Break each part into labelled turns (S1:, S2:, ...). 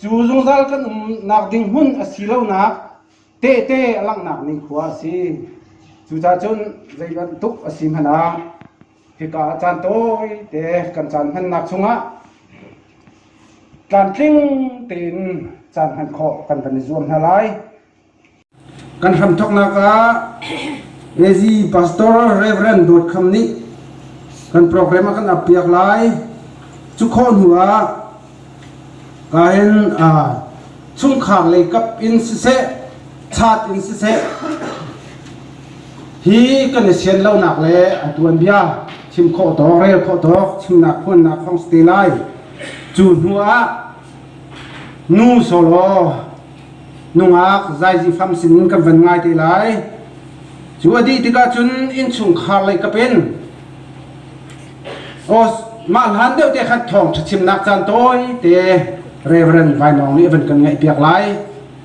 S1: Cu zungzal kan umnak ding hmun a si lonak tehte a langhnak nikhua a si. Cucaah cun zei bantuk a si hmanh ah hika ah caan tawite kan caan hmannak chungah tlamtling tein caan hman khawh kan van i zuam hna lai. Kan hramthawknak ah Ngezi Pastor Rev. Dawt Kham nih kan program a kan uppiak lai. Cu khawh hnu ah ka hin chungkhar lei kap in siseh, chat in siseh, hi kan i sian lonak le a tuanbia chim khawh tawk, rel khawh tawk, chimnak phuannak hong si te lai. Cu hnu ah nu solo nungak zaizi hram sinin kan van ngai te lai cu a dih tikah cun innchungkhar lei ka pen aw mah hlan deuh te khan thawng ṭhachimnak caan tawi te Reverend Vainawng nih a van kan ngaih piak lai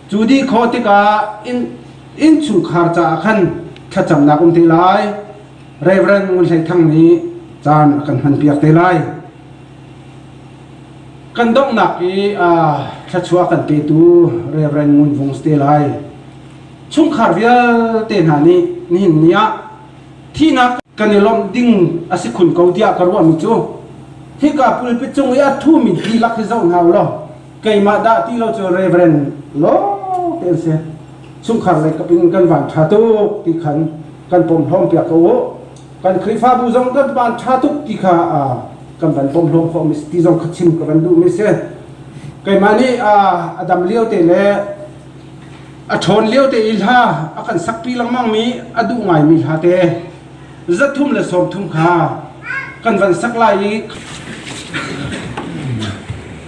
S1: cu dih khaw tikah inn innchungkhar caah khan thlacamnak um te lai Reverend Ngun Hlei Thang nih caan a kan hman piak te lai Kan donghnak i thluachuah kan petu Rev. Ngun Vung si te lai. Chungkhar vialte hna nih nihin ni ah thihnak kan i lawmh ding a si khun ko tiah ka ruahmi cu hika pulpit cung i a thumi dihlak hi zoh hna u law keimah dah ti lo cu Reverend lawng te an si. Chungkhar leikap in kan van ṭha tuk ti khan kan pom hlawm piak ko u. kan Khrihfabu zong kan van ṭha tuk ti kha kan van bawm hlawm khawh mi ti zong kha chim ka van duh mi si keimah nih a dam lio te le a ṭhawn lio te i hla a kan sakpi lengmang mi a duh ngai mi hla te zathum le sawmthum kha kan van sak lai i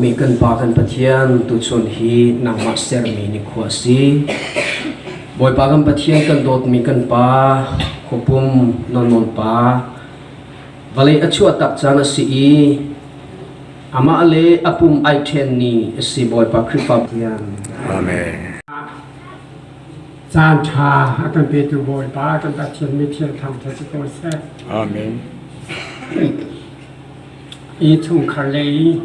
S1: ummi kan pa kan pathian tuchun hi nangmah sermi ni khua si bawipa kan pathian kan dawtmi kan pa khopum non non pa vale a chuah tak caan a si i Amah le a pum ai ṭhenmi a si Bawipa Khrihfa tiang. Amen. Caan ṭha a kan petu Bawipa kan Pathian mithiang thangṭha si ko seh. Amen. I chungkhar le i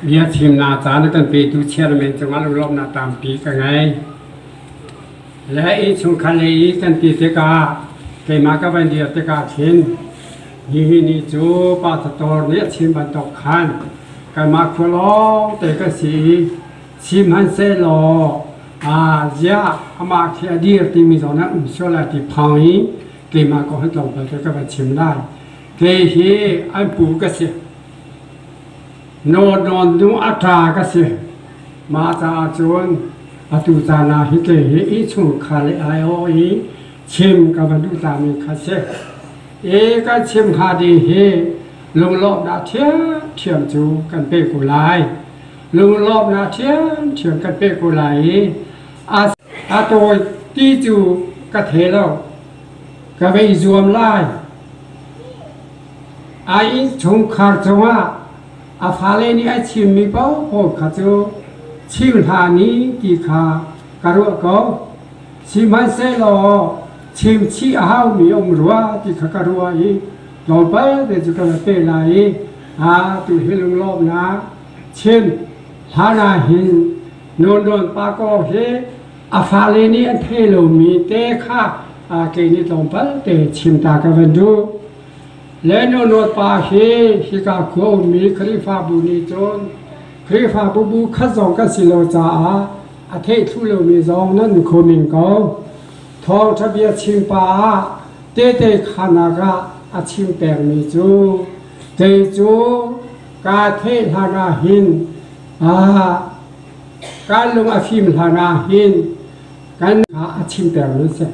S1: bia chimnak caan a kan petu chairman cungah lunglawmhnak tampi ka ngei. Le i chungkhar le i kan ti tikah keimah ka van dir tikah khin Hihi ni cu pa tator nih a chim bantuk khan kanmah khua lawng te kan si i chim hman seh law aa ziah amah khi a dir timi zong nan um sual lai ti phang i keimah ko han tlawmpal te ka van chim lai. Kei hi an pu ka si. Nawn nawn nu a ṭa ka si. Mah caah cun atu caan ah hi kei hi innchungkhar le ai aw i chim ka van duh tami kha si. E kan chim hnga ding hi lunglawmhnak ṭhiamṭhiam cu kan pe ko lai. Lunglawmhnak ṭhiamṭhiam kan pe ko lai i a tawi ti cu ka thei lo. Ka vei zuam lai. Ai chungkhar cungah a fale nih ai chimmi paohpaoh kha cu chim hlah ni ti kha ka ruah ko. Sihmanhsehlaw chimchih a haumi um rua ti kha ka ruah i tlawmpal te cu ka va pe lai i a tu hi lunglawmnak chim hlan ah hin Nunrawn pa ko hi a fale nih an thei lomi te kha a ke nih tlawmpal te chim ta ka van duh le Nunrawn pa hi hika khua ummi Khrihfabu nih cun Khrihfabu bu khat zong kan si lo caah a theih thlu lomi zong nan khum in ko Thawngṭha bia chim pa ah tehte khanak ah a chim pengmi cu kei cu kaa theh hlanah hin kaa lung a fim hlanah hin kan ah a chim pengmi a si.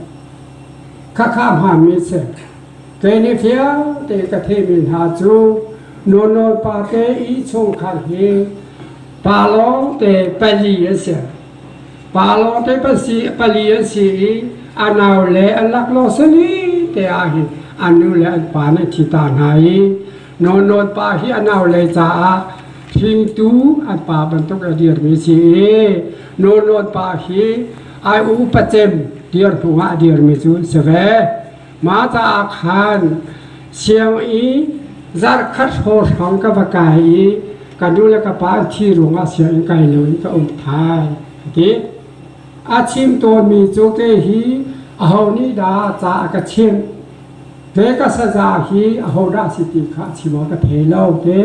S1: Khakha hngami a si. Kei nih fiangte ka theihmi hna cu nunawl pate i chungkhar hi pa lawngte pali a si. Pa lawng ṭep an si, pali an si i a nau le an laklawh sali te ahhin an nu le an pa nih an thi ta hna i Nawn Nawn pa hi a nau le caah hringtu an pa bantuk a dirmi a si i Nawn Nawn pa hi ai u pacem dir hnuah a dirmi cu an si ve. Mata ah khan sianginn zarhkhat hraw hrawng ka va kai i ka nu le ka pa an thi ruangah sianginn kai loin ka um thai a ti. A chim tawnmi cu te hi aho nih dah ca a ka chimh te ka saza hi aho dah a si ti kha a chim awk ka thei lo te.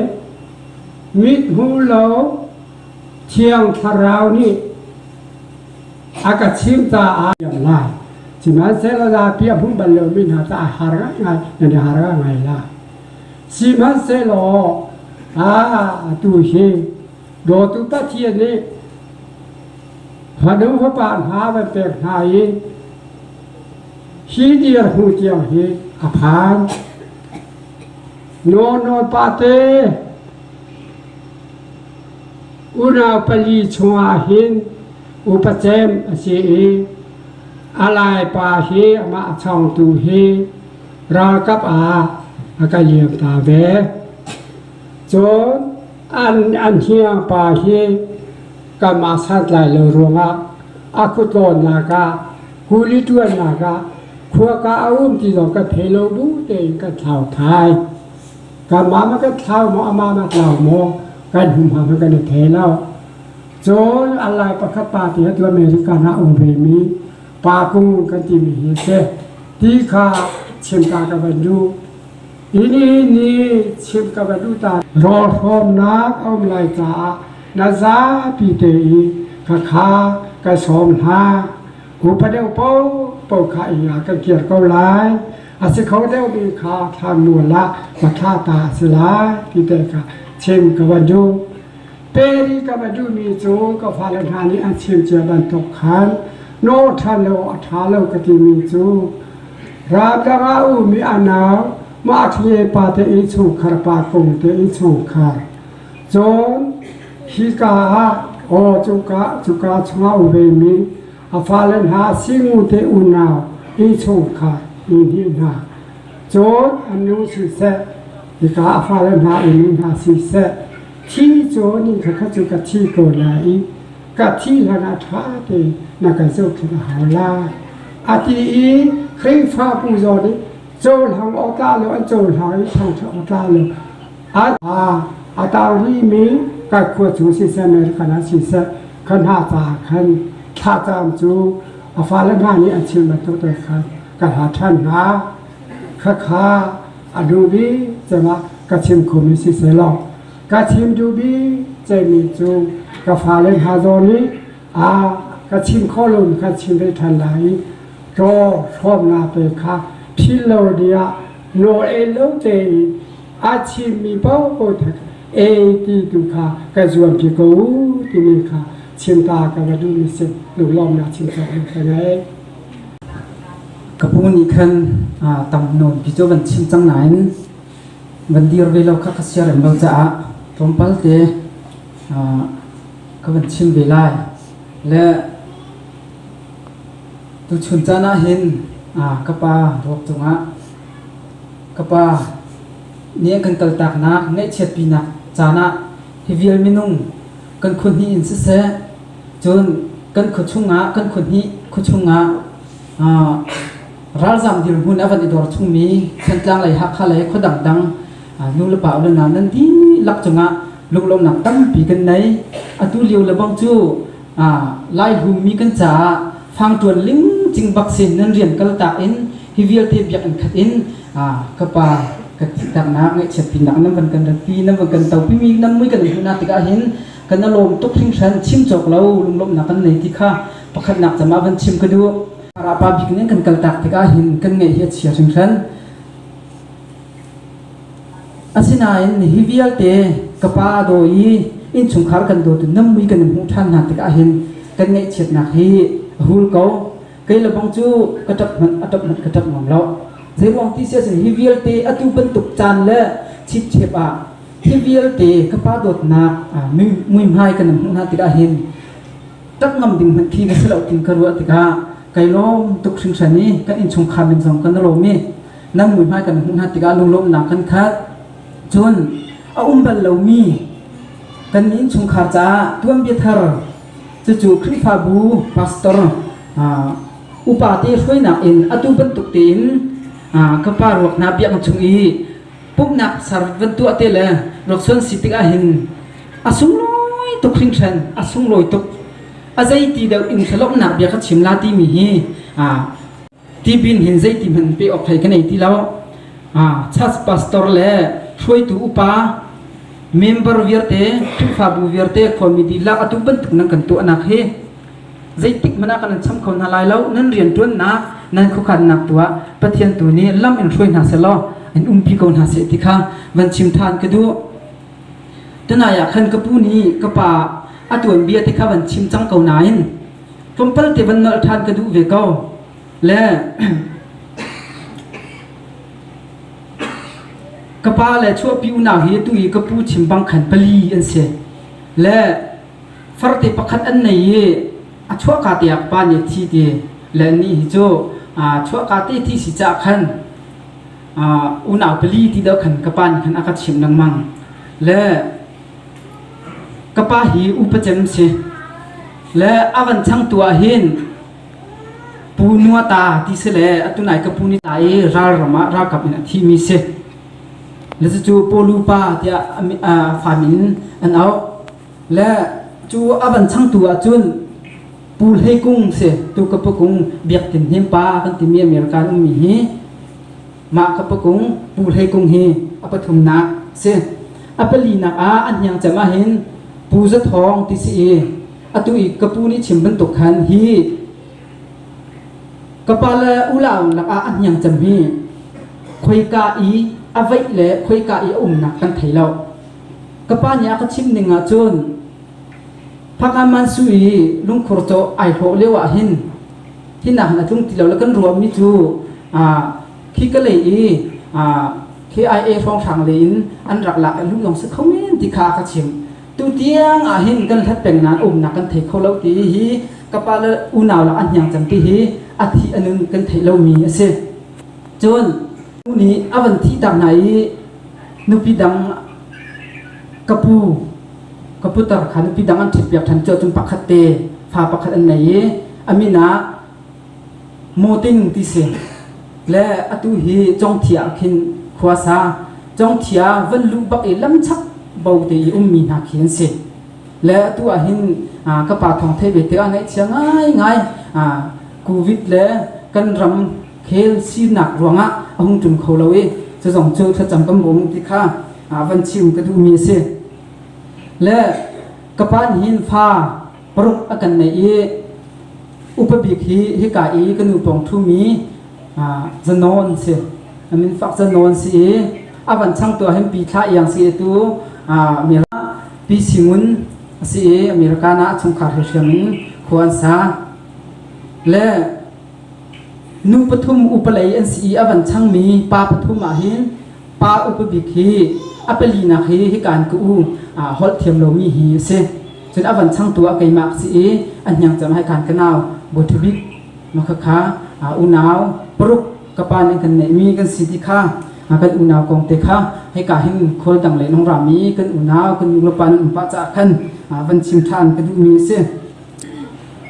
S1: Mithmuh lo thiang thlarau nih a ka chim caah yang ngai sihmanhsehlaw zapi a hung bal lomi hna cu a har ngaingai nan i har ngai la sihmanhsehlaw a tu hi dawtu pathian nih fanu fapa hna van pek hna i hi dir hnu tiang hi a phan nawn nawn pa te Unau pali chungah hin upa cem a si i a laipa hi amah chawngtu hi ralkap ah a ka liam ta ve. Cun an an hniangpa hi kanmah santlai lo ruangah a kutlawnnak ah kuli ṭuannak ah khua ka a um ti zong kan phei lo bu tein kan thlau thai. Kamah na kan thlau maw, amah na tlau maw, kan humhang hi kan i thei lo. Cun an lai pakhat pa te atu America na um ve mi pa kung kan timi hi a si. Ti kha chim ta ka van duh. Ini ni chim ka van duh ta. Rawl hrawmnak a um lai caah na zapi te i ka kha ka sawm hna. Ku padeu po po kha i a kan kir ko lai. A si kho deuhmi kha thlanmual ah va thlah ta a si lai ti teh kha chim ka va duh. Peri ka va duhmi cu ka fale hna nih an chim cia bantuk khan no ṭha lo a ṭha lo ka timi cu ramdanga umi anau mah ṭhie pa te i chungkhar pa kung te i chungkhar cun hi ka ah aw cuka cuka chungah u ve mi A fale hna singute unau ti chung kha i hngilh hna. Cun an nu siseh, hika a fale hna i mi hna siseh, thi cun inn kha cu ka thi ko lai i ka thi hlanah ṭha tein na ka zohkhenh a hau lai, a ti i Khrihfabu zawn i cohlang awkah lo an cohlang i thangṭhat awkah lo A tarlimi kan khua chung siseh, American ah siseh, kan hna caah khan thlacaam cu a fale hna nih an chim bantuk te khan ka hla ṭhan hna. Khakha a dubi cemah ka chim khumi si selaw, ka chim dubi cemi cu ka fale hna zawn i a ka chim khawh lomi khan chim ve ṭhan lai i ṭaw hrawmnak te kha philh lo dingah nawl en lo tein aa thimmi paohpaoh thang ei ti tu kha ka zuampi ko timi kha chimta ka va duhmi si lunglawmnak chimta ka ngei ka pu nih khan tam nawn pi cu van chim cang nain van dir ve lo kha ka siar em lo caah tlawmpal te ka van chim ve lai le Tuchun caan ah hin ka pa ruak cungah ka pa nih an kan kaltaknak ngaihchiatpinak caan ah hi vial minung kan khuahnih in siseh cun kan khuachungah kan khuahnih khuachungah ralzaam dirhmun a van i dor chungmi Thantlang lei Hakha lei khua dangdang nu le pa ule nau nan dihlak cungah lunglawmnak tampi kan nei. Atu lio lebang cu Laihu mi kan caah fangṭuan ling cing bak si nan rian kal tak in hi vialte biakinn khat in ka pa ka ttihternak ngaihchiatpinak nan van kan ratpi nan van kan topimi nan mui kan hmuhnak tikah hin kan alawm tuk hringhran chim cawk lo lunglawmhnak kan nei ti kha pakhatnak cam ah van chim ka duh rapa bik nih kan kal tak tikah hin kan ngaih hi a chia hringhran Asinain nihi vialte ka pa a daw i innchungkhar kan dawtu nammui kan in hmuh ṭhan hna tikah hin kan ngaihchiatnak hi a hul ko. Kei lebang cu ka ṭap hmanh a ṭap hmanh ka ṭap ngam lo. Zeiruang ti siahcun hi vialte atu bantuk caan le chipchep ah hi vialte ka pa dawtnak muihmai kan in hmuh hna tikah hin ṭap ngam ding hmanh khi na si lo ti ka ruah tikah kai lawm tuk hringhran i kan innchungkhar min zong ka na lawm i nan muihmai kan hmuh hna tikah lunglawmhnak kan khat cun a um bal lomi kan innchungkhar caah tuanbia thar cucu Khrihfabu pastor upate hruainak in atu bantuk tein ka pa ruak hna biaknak chung i pumhnak ser van tuah te le ruaksuan si tik ahhin a sunglawi tuk hringhran a sunglawi tuk a zei ti deuh in thlawmnak bia ka chim la timi hi Tipil hin zeitihmanh pe awk thei ka nei ti lo. Church pastor le hruaitu upa member vialte Khrihfabu vialte khuami dihlak atu bantuk nan kan tuahnak hi zeitik hmanh ah kan nan cham kho hna lai lo nan rianṭuannak nan khuakhannak tu ah Pathian tu nih lam in hruai hna selaw an umpi ko hna seh ti kha van chim ṭhan ka duh. Tunai ah khan ka pu nih ka pa a tuanbia te kha van chim cang ko nain Tlawmpal te van nolh ṭhan ka duh ve ko. Le ka pa le chuahpi unau hi atu i ka pu chimbang khan pali an si. Le farte pakhat an nei i a chuahka te ah ka pa nih a thi ti. Le anih hi cu aa chuahka te thi si caah khan aa unau pali ti deuh khan ka pa nih khan a ka chimh lengmang. Le Ka pa hi upacem si le a van changtu ahhin Pu Nua ta ti si le atu nai ka pu ni ta i ralram ah ralkap in a thimi si. Le cucu Pawlu pa tiah a fam in an auh. Le cu a van changtu ahcun Pu Hlei Kung si tu ka pu kung biak tin hnim pa kan timi American ummi hi Mah ka pakung Pu Hlei Kung hi a pathumnak a si. A palinak ah an hniang cem ahhin Pu Za Thawng ti si i atu i ka pu nih chim bantuk khan hi ka pa le ulau lakah an hniang cem hi khoika i a vaih le khoika i a umnak kan thei lo. Ka pa nih a ka chim ning ahcun Phakaman su i lungkhur caw ai hlawh lio ahhin hi nak na tlung ti lo la kan ruahmi cu khi ka lei i KIA hrawnghrang lei in an rak lak i lunglong si kho men ti kha ka chim tu tiang ah hin kan hlat peng nain umnak kan thei kho lo ti hi ka pa le unau lak an hniang cang ti hi a thih anun kan theih lomi a si cun u nih a van thihtak hna i nupi dang ka pu ka putar kha nupi dang an ṭhit piak ṭhan cu cun pakhat te fa pakhat an nei i A min ah Moting ti si le atu hi Congthia ah khin khua sa Congthia van luh bak i lamchak bo te i ummi hna khi an si le atu ah hin ka pa thawng thei ve tikah ngaihchia ngai ngai covid le kan ram khel sinak ruangah a hung ṭum kho lo i cu zong cu thlacam kan bawm ti kha van chim ka duhmi a si le ka pa nih hin fa paruk a kan neih i upa bik hi hika i ka nu pawng ṭhumi zanawn si min fak zanawn si i a van chang tu ahhin pi thla iang si tu pi singun a si i americana a chungkhar he hriam in khua an sa le nu pathum upalei an si i a van changmi pa pathum ahhin Pa upabik hi a palinak hi hikaan ka u holh thiam lomi hi a si. Cun a van changtu ah keimah ka si i a hniang cang hai kaan ka nau buthabik makhakha unau paruk ka pa nih kan neihmi kan si ti kha kan unau kong te kha hika hin khual dang le nong ram i kan unau kan nu le pa nan um pah caah khan van chim ṭhan ka duhmi a si.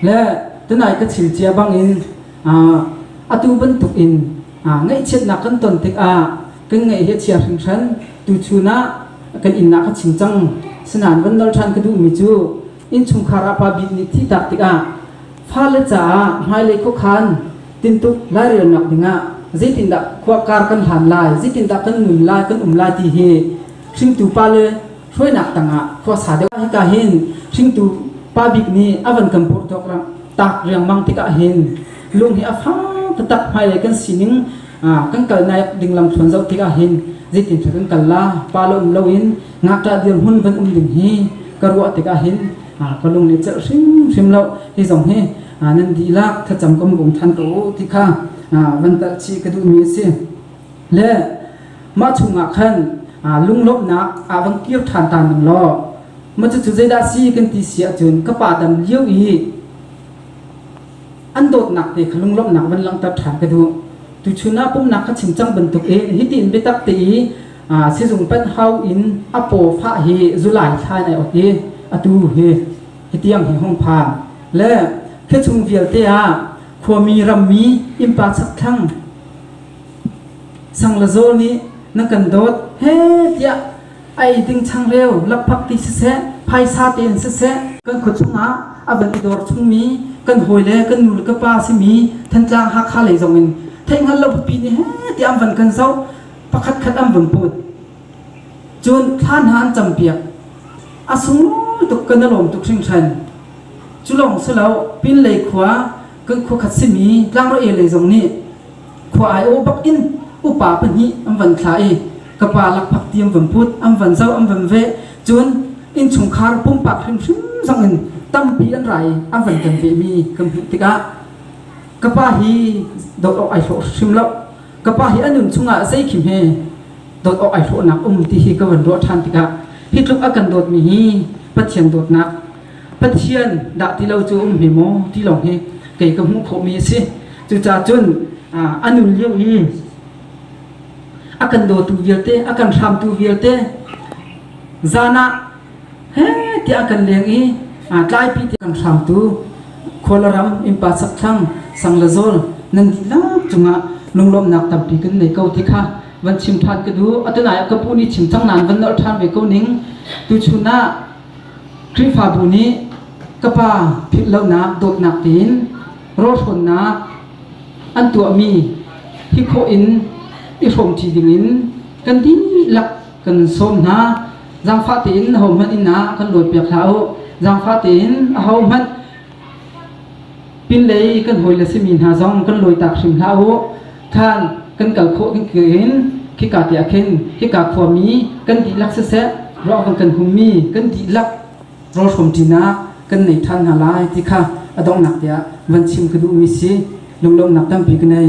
S1: Le tunai ka thil cia bangin atu bantukin ngaihchiatnak kan ton tikah kan ngaih hi a chia hringhran tuchun ah kan innak a ching cang sinain van dal ṭhan ka duhmi cu innchungkhar ah pa bik nih thih tak tikah fale caah hmailei khuakhan tintuk lairelnak dingah zeitindah khua kar kan hlan lai zeitindah kan nun lai kan um lai ti hi hringtu pa le hruainak tangah khuasa deuh hika hin hringtu pa bik nih a van kan purh thok tak riangmang tikah hin lung hi a fak tak hmailei kan sining kan kal naik ding lam thluan zoh tikah hin zeitin cu kan kal la pa lo um loin ngakṭah dirhmun van um ding hi ka ruah tikah hin ka lung nih celh hrimhrim lo hi zong hi nan dih lak thlacam ka hung than ko ti kha van talh chih ka duhmi a si le mah chungah khan lunglawmhnak aa van kir ṭhan ta ning law macucu zeidah si kan ti si ahcun ka pa dam lio i an dawtnak te kha lunglawmhnak van langhter ṭhan ka duh tuchun ah pumhnak kha chim cang bantuk e hiti in biatak te i sizung panh hau in a paw fah hi zulai thla in ai ok i atu hi hitiang hi hong phan le khechung vialte ah khuami rammi innpa sakthlang Sang le zaw nih na kan dawt he tiah a ei ding changreu lakphak ti siseh phaisa tein siseh kan khua chungah a van i dor chungmi kan hawi le kan nu le ka pa simi Thantlang Hakha lei zongin theihhngal lo bupi nih heh tiah an van kan zoh pakhat khat an vun put cun thlan hna an campiak a sung tuk ka na lawm tuk hringhran cu lawng si lo pinlei khua kan khua khat simi tlangrawel lei zong nih khua aiawh bak in upa pahnih an van thlah i ka pa lakphak ti an van put an van zau an van veh cun innchungkhar pumpak hrimhrim zong in tampi an rai an van kan vehmi kan hmuh tikah ka pa hi dawt awk ai hlawh hrim lo ka pa hi a nun chungah zeikhim he dawt awk ai hlawhnak um ti hi ka van ruah ṭhan tikah hi tluk a kan dawtmi hi Pathian dawtnak Pathian dah ti lo cu um hme maw ti lawng hi kei ka hmuh khawhmi a si. Cucaah cun a nun lio i a kan dawtu vialte, a kan hramtu vialte zan ah he tiah a kan leng i tlaipi tiah kan hramtu khualaram innpa sakthlang sang le zawl nan dihlak cungah lunglawmhnak tampi kan nei ko ti kha van chim ṭhan ka duh. Atunai ah ka pu nih chim cang nain van nolh ṭhan ve ko ning. Tuchun ah Khrihfabu nih ka pa philhlonak dawtnak tein rawhrawnnak an tuahmi hi khawh in i hrawmṭi dingin kan dihlak kan sawm hna. Zaangfah tein ahohmanh inn ah kan luatpiak hlah u. Zaangfah tein ahohmanh Pinlei i kan hawile simi hna zong kan lawitak hrim hlah u. Khan kan kal khawh kan in khika te ah khin khika khuami kan dihlak siseh ruah kan kan hummi kan dihlak rawlhrawm ṭinak kan nei ṭhan hna lai ti kha a donghnak tiah van chim ka duhmi si lunglawmhnak tampi ka nei.